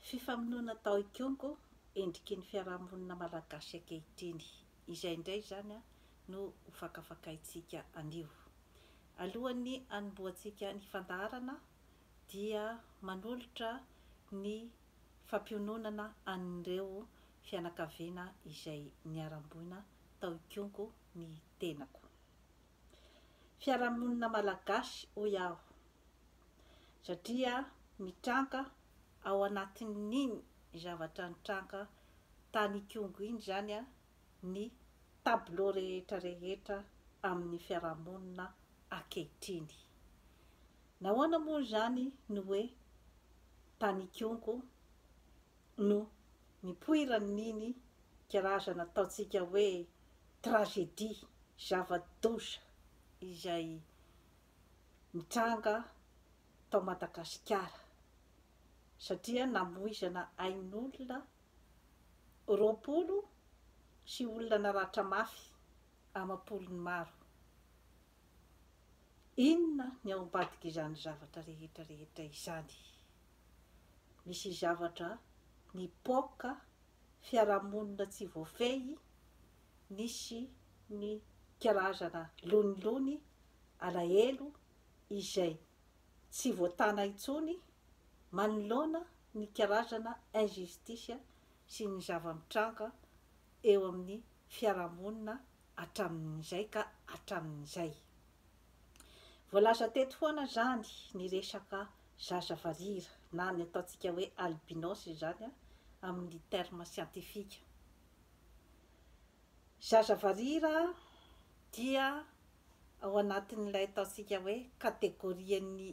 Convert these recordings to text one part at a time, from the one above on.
Fifamonoana tao Ikongo, endriky ny fiarahamonina malagasy ankehitriny. Izay indray izany no ho fakafakaintsika anio. Alohan'ny hanombohantsika ny fandaharana dia manolotra ny fampiononana an'ireo fianakaviana izay niharam-boina tao Ikongo ny tenako. fiarahamonina malagasy hoy aho satria mitranga ao anatin'iny zavatra nitranga tany Ikongo iny izany ny tableau rehetra rehetra amin'ny fiarahamonina ankehitriny. Nahoana moa izany no hoe tany Ikongo no nipoiran'iny karazana ataontsika hoe tragédie, zava-doza izay nitranga tao Madagasikara satria namoizana ain'olona roapolo sy olona naratra mafy amam-polony maro. Inona ny ao ambadik'izany zavatra rehetra rehetra izany? Misy zavatra nipoaka fiarahamonina tsy voafehy nisy ny karazana lonilony alahelo izay tsy voatana intsony manoloana ny karazana injustice sy ny zava-mitranga eo amin'ny fiarahamonina hatramin'izay ka hatramin'izay. Voalaza teto foana izany ny resaka zaza varira na ny ataontsika hoe albinos izany amin'ny terme siantifika. Zaza varira dia ao anatin'ilay ataontsika hoe kategorian'ny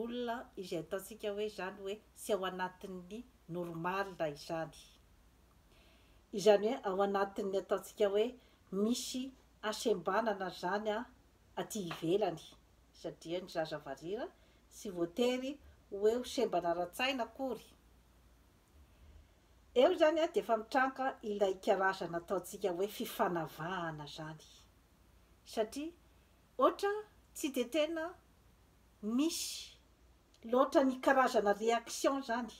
olona izay ataontsika hoe izany hoe tsy ao anatin'ny normal izany. Izany hoe ao anatin'ny ataontsika hoe misy hasembanana izany aty ivelany satria ny zaza varira tsy voatery ho eo sembana ara-tsaina akory. Eo izany dia efa mitranga ilay karazana ataontsika hoe fifanavahana izany satria ohatra tsy dia tena misy loatra ny karazana réaction izany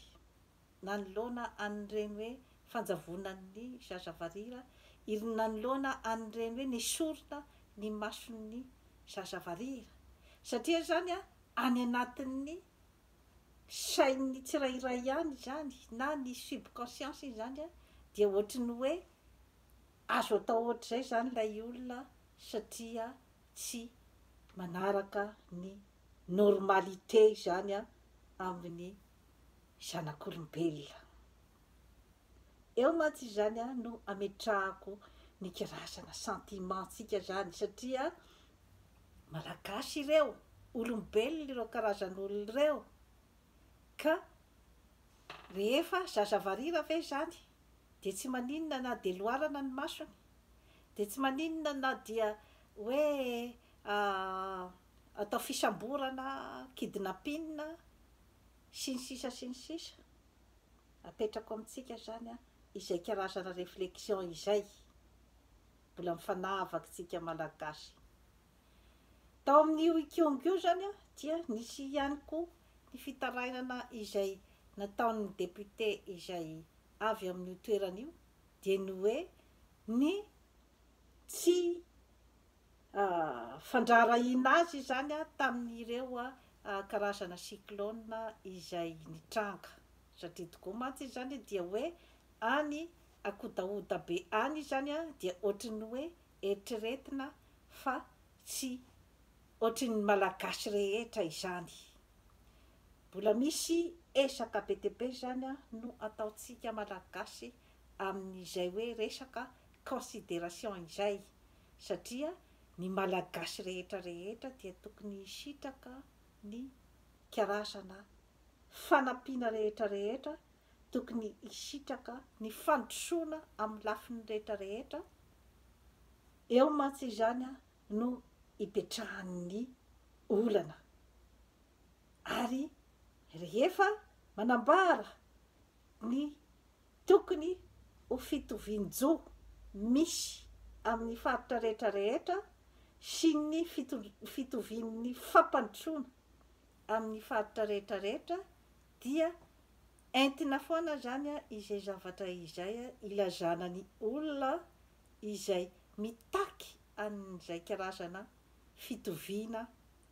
nanoloana an'ireny hoe fanjavonan'ny zaza varira, irn nanoloana an'ireny hoe nesorina ny mason'ny zaza varira. Satria izany any anatin'ny sain'ny tsirairay any izany na ny subconscience-ny izany dia ohatry ny hoe azo atao ohatr'izay izany ilay olona satria tsy manaraka ny normalité izany amin'ny zanak'olombelona. Eo mantsy izany no ametrahako ny kirazana sentiment tsika zany satria Malagasy ireo, olombelona ireo karazan'olona ireo ka rehefa zaza varira ve zany dia tsy maninona na dia loarana ny masony, dia tsy maninona na dia hoe atao fisamborana, kidnapping, sy ny sisa sy ny sisa, apetrako amintsika zany an izay karazana reflexion izay mbola mifanavaky tsika malagasy. Tao amin'io ikiong io zany an dia nisy ihany koa ny fitarainana izay nataon'ny député izay avy amin'io toerana io dia ny hoe ny tsy fandraharahiana azy izany tamin'ireo karazana cyclone izay nitranga, satria tokoa mantsy izany dia hoe any ankodahoda be any izany dia ohatry ny hoe eritreretina fa tsy ohatry ny Malagasy rehetra izany. Mbola misy ezaka be dia be izany no ataontsika Malagasy amin'izay hoe resaka consideration izay satria ny Malagasy rehetra rehetra dia tokony hisitraka ny karazana fanampiana rehetra rehetra tokony hisitraka ny fandrosoana amin'ny lafiny rehetra rehetra, eo mantsy izany no ipetrahan'ny olana ary rehefa manambara ny. Tokony ho fitovian-jo misy amin'ny faritra rehetra rehetra sy ny fitovian'ny fampandrosoana amin'ny faritra rehetra rehetra dia entina foana izany izay zavatra izay ilazana ny olona izay mitaky an'izay karazana fitoviana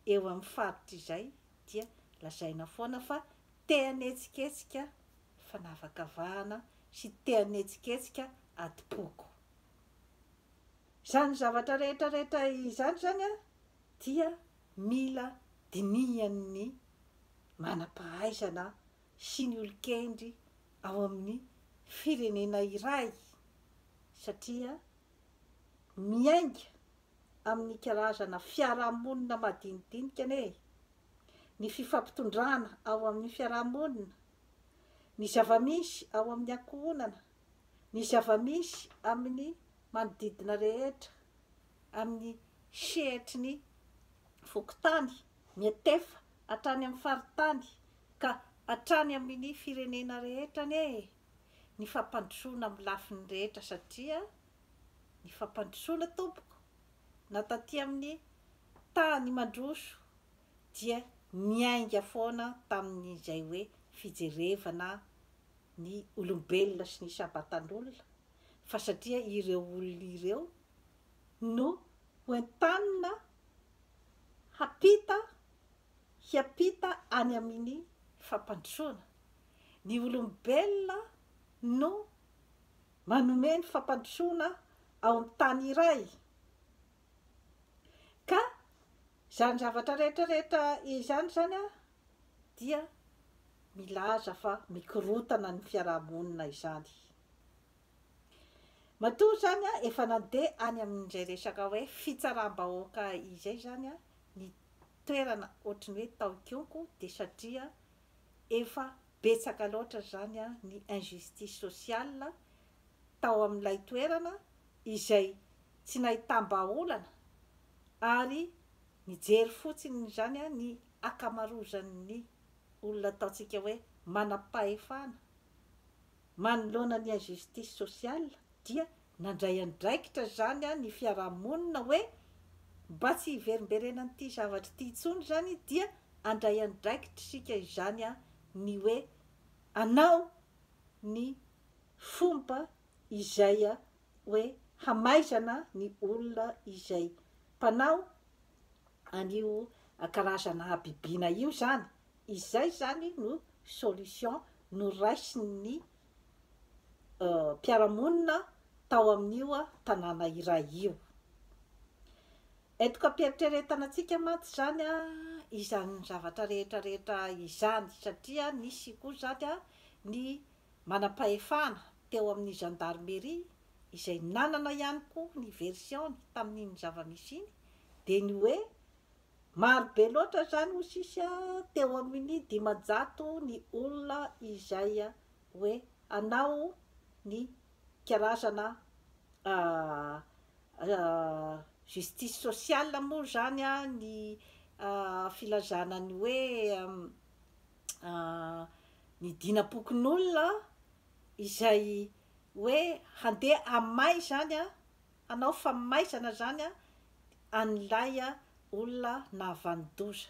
eo amin'ny faritra izay dia lazaina foana fa te hanetsiketsika fanavakavahana sy te-hanetsiketsika adim-poko. Izany zavatra rehetra rehetra izany izany dia mila dinihan'ny manam-pahaizana sy ny olon-kendry ao amin'ny firenena iray satria miainga amin'ny karazana fiarahamonina madinidinika anie ny fifampitondrana ao amin'ny fiarahamonina ny zava-misy ao amin'ny ankohonana, ny zava-misy amin'ny manodidina rehetra, amin'ny sehatry ny fokontany, ny antefa, hatrany amin'ny faritany, ka hatrany amin'ny firenena rehetra anie e! Ny fampandrosoana amin'ny lafiny rehetra satria ny fampandrosoana tompoko na taty amin'ny tany mandroso dia niainga foana tamin'izay hoe fijerevana ny olombelona sy ny isam-batan'olona fa satria ireo olona ireo no hoentanina hampita hiampita any amin'ny fampandrosoana. Ny olombelona no manome ny fampandrosoana ao amin'ny tany iray Ka izany zavatra rehetra rehetra izany izany dia milaza fa mikorontana ny fiaraha-monina izany. Matoa izany efa nandeha any amin'izay resaka hoe fitsaram-bahoaka izay izany ny toerana ohatry ny hoe tao Ikonko dia satria efa betsaka loatra izany ny injustice sociale tao amin'ilay toerana izay tsy nahitam-bahaolana ary nijery fotsiny izany ny akamarozan'ny olona ataontsika hoe manam-pahefana manoloana ny injustice sociale dia nandray andraikitra izany ny fiarahamonina hoe mba tsy hiverimberenan'ity zavatra ity intsony izany dia andray andraikitra isika izany ny hoe anao ny fomba izay hoe hamaizana ny olona izay mpanao an'io karazana habibiana io zany, izay zany no solution noraisin'ny mpiara-monina tao amin'io tanàna iray io. Etoka am-pieritreretana antsika mantsy izany izany zavatra rehetra rehetra izany satria nisy koa izany ny Manam-pahefana teo amin'ny Gendarmerie izay nanana ihany koa ny version-ny tamin'iny zava-misy iny dia ny hoe maro be loatra izany hoy sisa teo amin'ny dimanjato ny olona izay hoe hanao ny karazana justice sociale moa izany ny filazana ny hoe ny dinam-pokonolona izay hoe handeha hamay izany an, hanao famaizana izany an, an'ilay olona nahavanon-doza.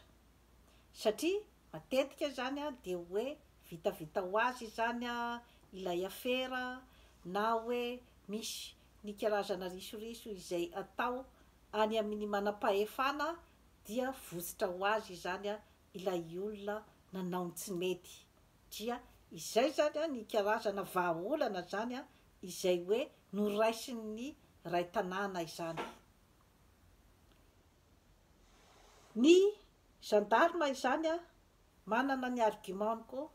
Satria matetika izany an dia hoe vitavita ho azy izany an ilay afera na hoe misy ny karazana risoriso izay atao any amin'ny manam-pahefana dia votsotra ho azy izany an ilay olona nanao ny tsy mety dia izay izany ny karazana vahaolana izany izay hoe noraisin'ny Ray tanàna izany. Ny gendarme izany manana ny argument-ny koa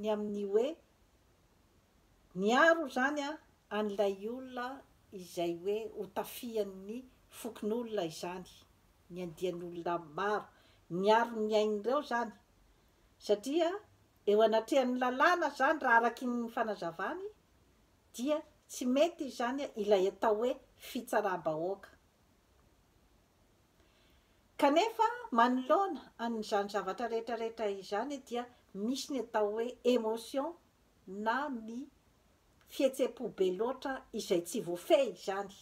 ny amin'ny hoe niaro izany an'ilay olona izay hoe hotafihan'ny fokonolona izany. ny andian'olona maro niaro ny ainy ireo izany satria eo anatrehan'ny lalàna izany raha araky ny fanazavany dia tsy mety izany ilay atao hoe fitsaram-bahoaka kanefa manoloana an'izany zavatra rehetra rehetra izany dia misy ny atao hoe emotion na ny fihetsem-po be loatra izay tsy voafehy izany.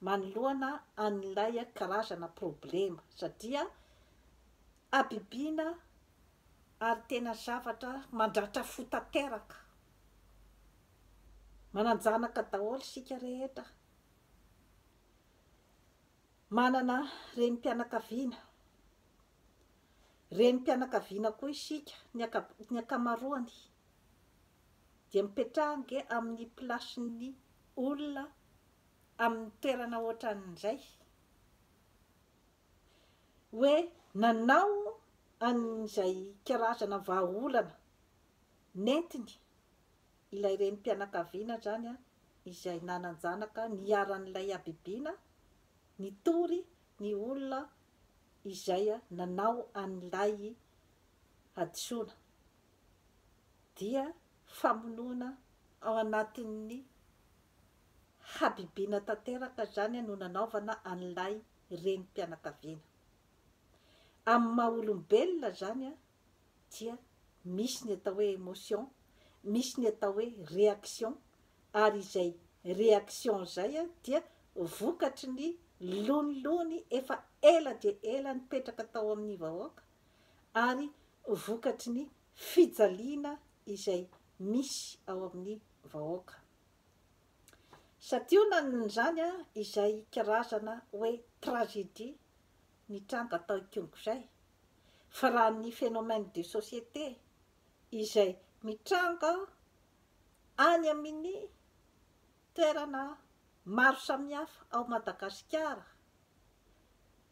manoloana an'ilay karazana problema satria habibiana ary tena zavatra mandratra fo tanteraka. Manan-janaka daholo isika rehetra, manana renim-pianakaviana, renim-pianakaviana koa isika ny ny ankamaroany. dia mipetraha ange amin'ny plasin'ny olona amin'ny toerana ohatran'izay hoe nanao an'izay karazana vahaolana nentiny ilay renim-pianakaviana izany izay nanan-janaka niharan'ilay habibiana nitory ny olona izay nanao an'ilay hadisoana. dia famonoana ao anatin'ny habibiana tanteraka izany no nanaovana an'ilay renim-pianakaviana. Amin'ny maha olombelona izany dia misy ny atao hoe emotion, misy ny atao hoe réaction ary izay réaction izay dia vokatry ny lonilony efa ela dia ela nipetraka tao amin'ny vahoaka ary vokatry ny fijaliana izay misy ao amin'ny vahoaka. Santionan'izany izay karazana hoe tragédie nitranga tao Ikongo izay, fa raha ny phénomène de société izay mitranga any amin'ny toerana maro samihafa ao Madagasikara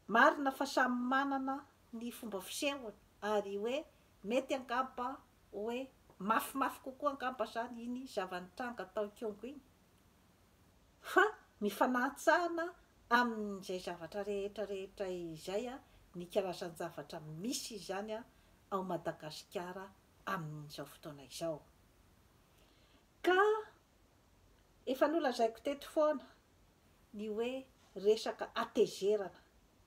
Marina fa samy manana ny fomba fisehony ary hoe mety angamba hoe mafimafy kokoa angamba zany iny zava-nitranga tao Kyongo iny fa mifanahantsana amin'izay zavatra rehetra rehetra izay ny karazan-javatra misy izany ao Madagasikara amin'izao fotoana izao ka efa nolazaiko teto foana ny hoe resaka hatezerana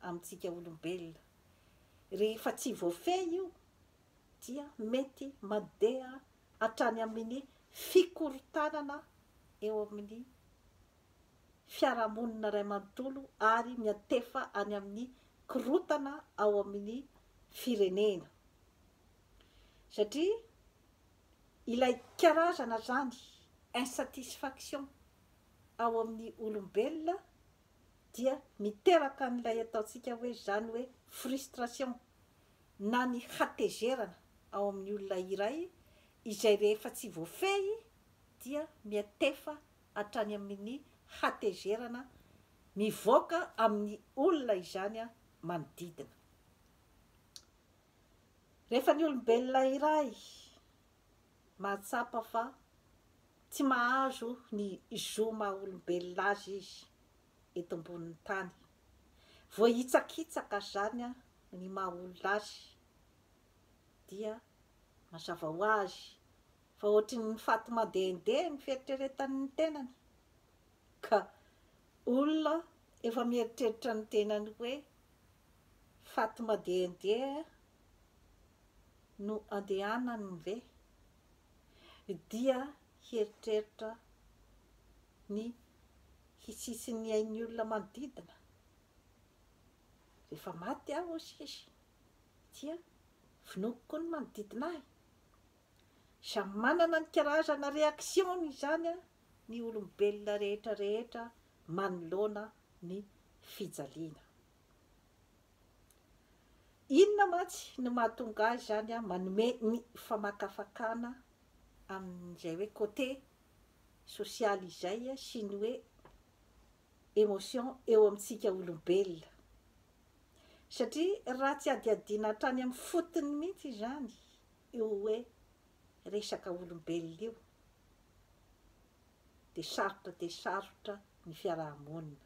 amintsika olombelona. Rehefa tsy voafehy io dia mety mandeha hatrany amin'ny fikorontanana eo amin'ny fiarahamonina iray manontolo ary miantefa any amin'ny korontana ao amin'ny firenena. Satria ilay karazana izany insatisfaction ao amin'ny olombelona dia miteraka an'ilay ataontsika hoe izany hoe frustration na ny hatezerana ao amin'ny olona iray izay rehefa tsy voafehy dia miantefa hatrany amin'ny hatezerana mivoaka amin'ny olona izany manodidina. Rehefa ny olombelona iray. mahatsapa fa tsy mahazo ny zo maha olombelona azy izy eto ambonin'ny tany. Voahitsakitsaka izany ny maha olona azy dia mazava ho azy fa ohatry ny faty mandehandeha ny fieritreretany ny tenany ka olona efa mieritreritra ny tenany hoe faty mandehandeha no andehanany ve dia hieritreritra ny hisisin' ny ain' ny olona manodidina? Rehefa maty aho hoy izy dia vonoiko koa ny manodidina ahy. Samy manana ny karazana reaction-ny izany ny olombelona rehetra rehetra manoloana ny fijaliana. Inona mantsy no mahatonga ahy izany an, manome ny famakafakana amin'izay hoe côté sosialy izay sy ny hoe émotion eo amintsika olombelona. Satria raha tsy hadihadiana hatrany amin'ny fotony mihitsy izany io hoe resaka olombelona io dia sarotra dia sarotra ny fiaraha-monina.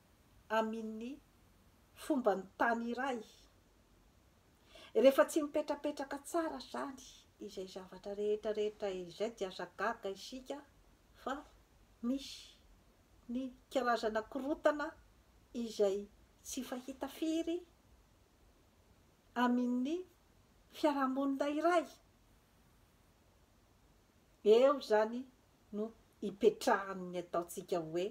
aminny fombanny tany iray. Rehefa tsy mipetrapetraka tsara zany izay zavatra rehetra rehetra izay dia aza gaga isika fa misy ny karazana korotana izay tsy fahita firy aminny fiarahamonina iray. Eo zany no ipetrahan'ny ataontsika hoe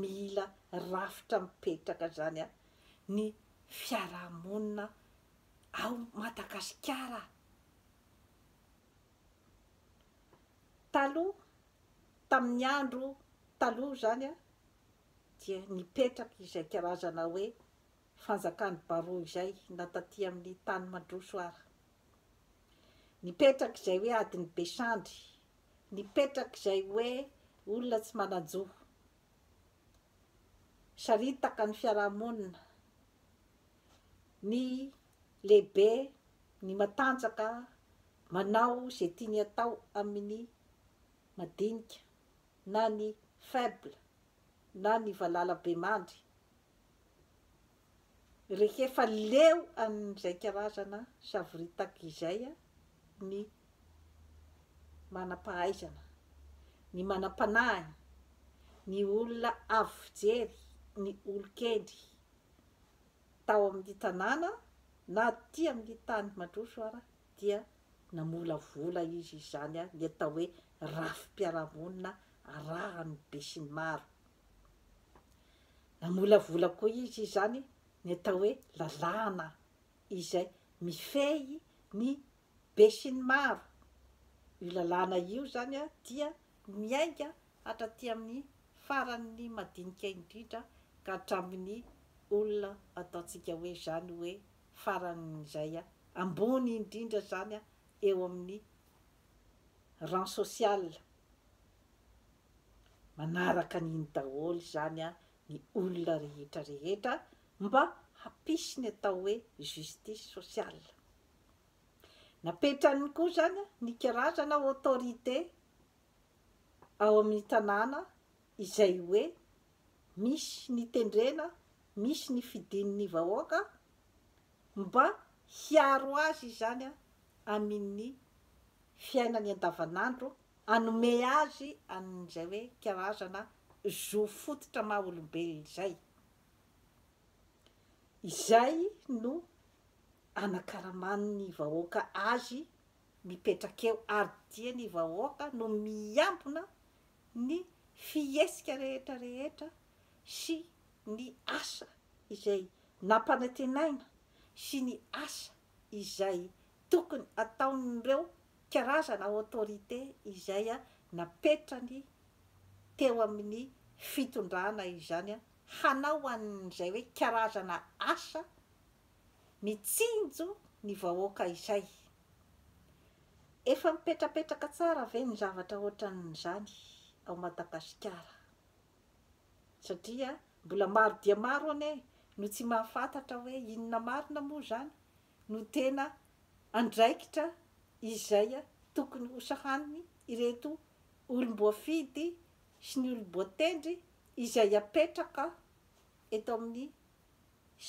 mila rafitra mipetraka zany a, ny fiarahamonina ao Madagasikara a. Taloha, tamin'ny andro taloha zany a, dia nipetraka izay karazana hoe fanjakan'ny baroa izay na taty amin'ny tany mandroso ara. Nipetraka izay hoe adin'i Besandry Nipetrak'izay hoe olona tsy manan-jo. Saritaka ny fiarahamonina, ny lehibe, ny matanjaka manao izay tiany atao amin'ny madinika na ny faible na ny valalabemandry rehefa leo amin'izay karazana savoritaka izay ny manam-pahaizana, ny manam-panahiny, ny olona avo fijery, ny olon-kendry tao amin'ny tanàna na aty amin'ny tany mandroso ara dia namolavola izy izany, ny atao hoe rafi-piarahamonina arahan'ny besinimaro. Namolavola koa izy izany ny atao hoe lalàna izay mifehy ny besinimaro. Io lalàna io izany dia miainga hatraty amin'ny faran'ny madinika indrindra ka hatramin'ny olona ataontsika hoe izany hoe faran'izay ambony indrindra izany eo amin'ny rang social. Manaraka an'iny daholo izany an ny olona rehetra rehetra mba hampisy ny atao hoe justice sociale. Napetrany koa izany ny karazana autorité ao amin'ny tanàna izay hoe misy ny tendrena, misy ny fidin'ny vahoaka mba hiaro azy izany an amin'i fiainany andavanandro hanome azy an'izay hoe karazana zo fototra maha olombelona izay. Izay no anakaraman'ny vahoaka azy mipetraka eo ary dia ny vahoaka no miambina ny fihetsika rehetra rehetra sy ny asa izay nampanantenaina sy ny asa izay tokony ataon'ireo karazana autorité izay napetrany teo amin'ny fitondrana izany hanao an'izay hoe karazana asa mitsinjo ny vahoaka izay. Efa mipetrapetraka tsara ve ny zavatra ohatran'izany ao Madagasikara? Satria mbola maro dia maro anie no tsy mahafantatra hoe inona marina moa izany no tena andraikitra izay tokony hosahaniny ireto olom-boafidy sy ny olom-boatendry izay apetraka eto amin'ny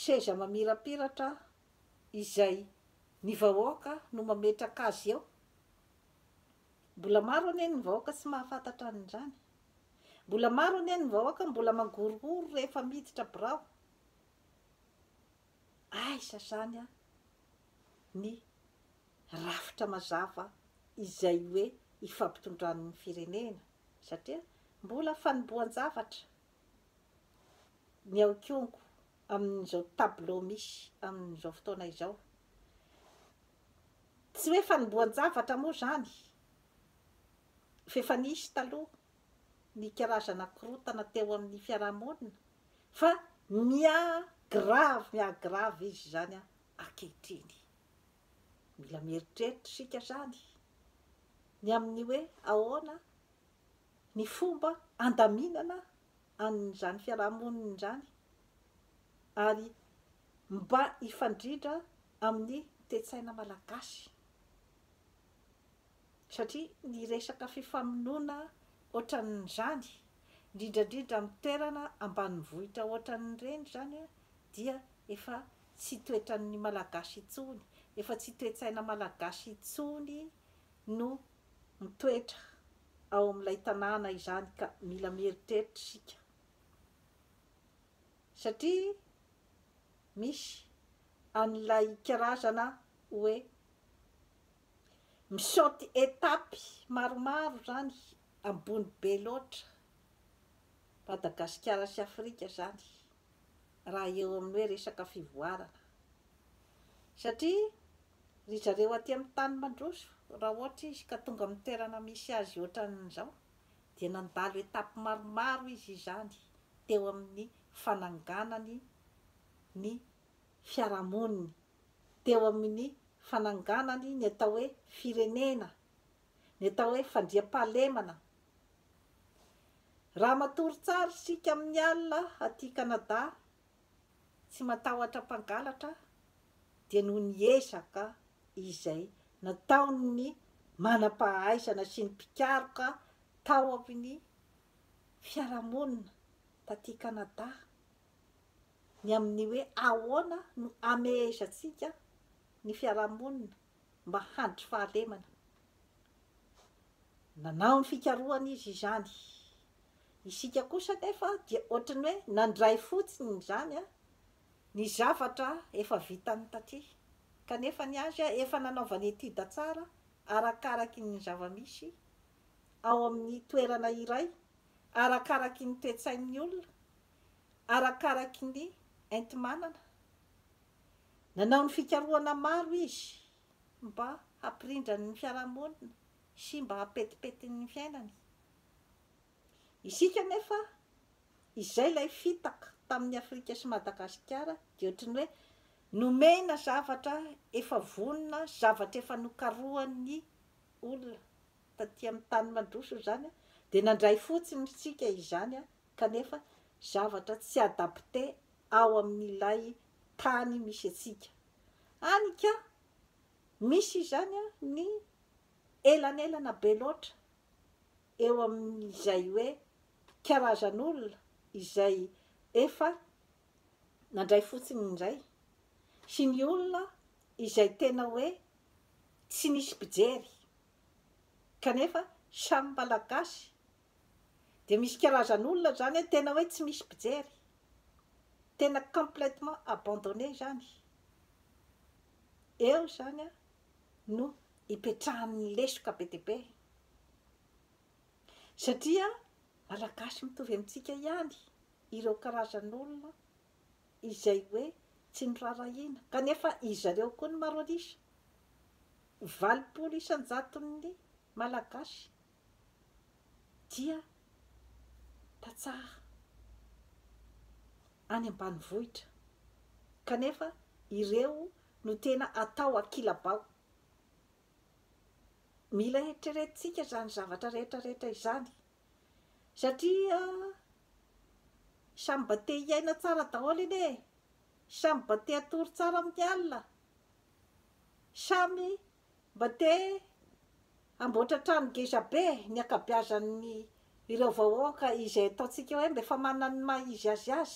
seza mamirapiratra izay ny vahoaka no mametraka azy eo. Mbola maro anie ny vahoaka tsy mahafantatra an'izany. Mbola maro anie ny vahoaka mbola mangorohoro rehefa miditra birao. Aiza zany ny rafitra mazava izay hoe ifampitondran'ny firenena satria mbola fanombohan-javatra ny aokongo amin'izao tableau misy amin'izao fotoana izao. Tsy hoe fanombohan-javatra moa zany f'efa nisy taloha ny karazana korontana teo amin'ny fiarahamonina fa miha grave miha grave izy izany ankehitriny. Mila mieritreritra isika izany ny amin'ny hoe ahoana ny fomba handaminana an'izany fiarahamonina izany ary mba hifandrindra amin'ny toe-tsaina malagasy. Satria ny resaka fifamonoana ohatran'izany, indrindra indrindra amin'ny toerana ambanivohitra ohatran'ireny izany dia efa tsy toetran'ny Malagasy intsony, efa tsy toe-tsaina Malagasy intsony no mitoetra ao amin'ilay tanàna izany ka mila mieritreritra isika. Satria misy an'ilay karazana hoe Misaute étape maromaro zany ambony be loatra Madagasikara sy Afrika zany raha eo amin'ny hoe resaka fivoarana satria ry zareo aty amin'ny tany mandroso raha ohatra izy ka tonga amin'ny toerana misy azy ohatran'izao dia nandalo étape maromaro izy izany teo amin'ny fananganany ny fiarahamoniny teo amin'ny fananganany ny atao hoe firenena, ny atao hoe fandriampahalemana. Raha matory tsara isika amin'ny alina aty Canada, tsy matahotra mpangalatra, dia noho ny ezaka izay nataon'ny manam-pahaizana sy ny mpikaroka tao amin'ny fiarahamonina taty Canada, ny amin'ny hoe ahoana no amehesantsika ny fiarahamonina mba handritry fahalemana. Nanao ny fikarohana izy izany. Isika kosa anefa dia ohatran'ny hoe nandray fotsiny izany ny zavatra efa vitany taty, kanefa ny azy efa nanaovany étude tsara arakaraky ny zava-misy ao amin'ny toerana iray, arakaraky ny toe-tsain'ny olona, arakaraky ny enti-manana. Nanao ny fikarohana maro izy mba hampirindrany ny fiarahamonina sy mba hampetipetiny ny fiainany. Isika anefa, izay ilay fitaka tamin'i Afrika sy Madagasikara dia ohatry ny hoe nomena zavatra efa vonona, zavatra efa nokarohan'ny olona taty amin'ny tany mandroso izany dia nandray fotsiny isika izany kanefa zavatra tsy adapte ao amin'ilay tany misy antsika any ka misy izany ny elanelana be loatra eo amin'izay hoe karazan'olona izay efa nandray fotsiny indray sy ny olona izay tena hoe tsy nisy mpijery kanefa samy malagasy dia misy karazan'olona izany hoe tena hoe tsy misy mpijery, tena complètement abandonné izany, eo izany no ipetrahan'ny lesoka be dia be, satria Malagasy mitovy amintsika ihany ireo karazan'olona izay hoe tsy noraharahiana, kanefa izy ireo koa no maro an'isa, valopolo isan-jaton'ny Malagasy dia tantsaha any ambanivohitra kanefa ireo no tena atao ankilabao. Mila heritreretintsika izany zavatra rehetra rehetra izany satria samy mba te hiaina tsara daholo anie e! Samy mba te hatory tsara amin'ny alina, samy. Mba te hamboatra trano geza be ny akabeazan'ny ireo vahoaka izay ataontsika hoe mba efa manana ny maha izy azy azy.